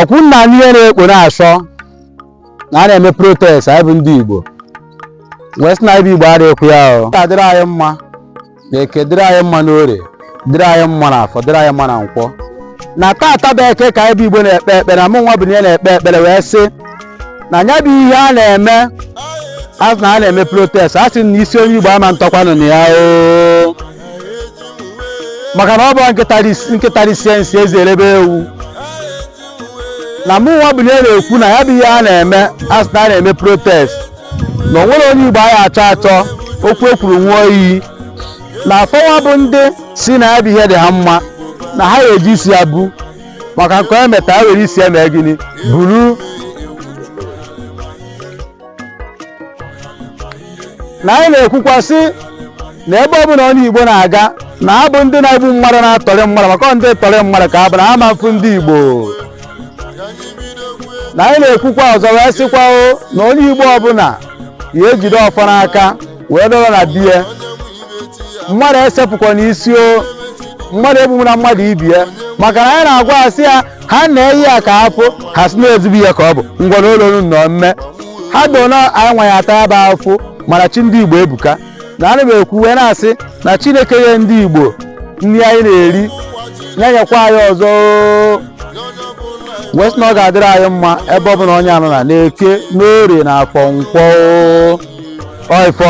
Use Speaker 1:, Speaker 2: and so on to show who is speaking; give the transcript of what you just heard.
Speaker 1: ọkwụ nna anyị ihe na-ekpo na-asọ na a na-eme protest anyị bụ ndị Igbo wee sị na anyị bụ Igbo adịghịkwa ya ọ ga-adịrị anyị mma na eke dịrị anyị mma n'ore dịrị anyị mma na afọ dịrị anyị mma na nkwọ na taata bụ eke ka anyị bụ Igbo na-ekpe ekpere na mụ nwa bụ na ya na-ekpe ekpere wee sị na nya bụ ihe a na-eme a sị na a na-eme protest a sị na isi onye Igbo ama ntọkwanụ na ya oo maka na ọ bụrọ nkịta risie nsị eze erebe ewu na mụ nwa bụ ihe na-ekwu na ya bụ ihe a na-eme a sị na a na-eme protest na o nwere onye igbo a ya-achọ achọ okwu e kwuru ṅụọ iyi na afọ nwa bụ ndị sị na ya bụ ihe dị ha mma na ha ga-eji isi ya bu maka nke onye meta ya were isi ya mee gịnị buru na anyị na-ekwukwa sị na ebe ọ bụla onye Igbo na-aga na ha bụ ndị na-egbu mmadụ na-atọrị mmadụ maka ndị tọrị mmadụ ka ha bụ na ha ama mfu ndị Igbo na anyị na-ekwukwa ọzọ wee sịkwa o na onye Igbo ọbụla ya ejide ọfọ n'aka wee dọrọ na biye mmadụ esepụkwana isi o mmadụ egbumụna mmadụ ibie maka na anyị na-agwa asị ya ha na-eyi ya ka afụ ha si na-ezibu ya ka ọ bụ ngwa n'ụlọ unu nọ mme ha do na anyị nwa ya-ata ya bụ afụ mana chi ndị igbo ebuka na ana m ekwu wee na-asị na chineke nye ndị igbo nri anyị na-eri ya nyekwa anyị ọzọ oo. wee sị na ọ ga-adịrị anyị mma ebe ọ bụla onye anọ na n'eke n'orie na afọ nkwọ oo. Ọ ọfọ.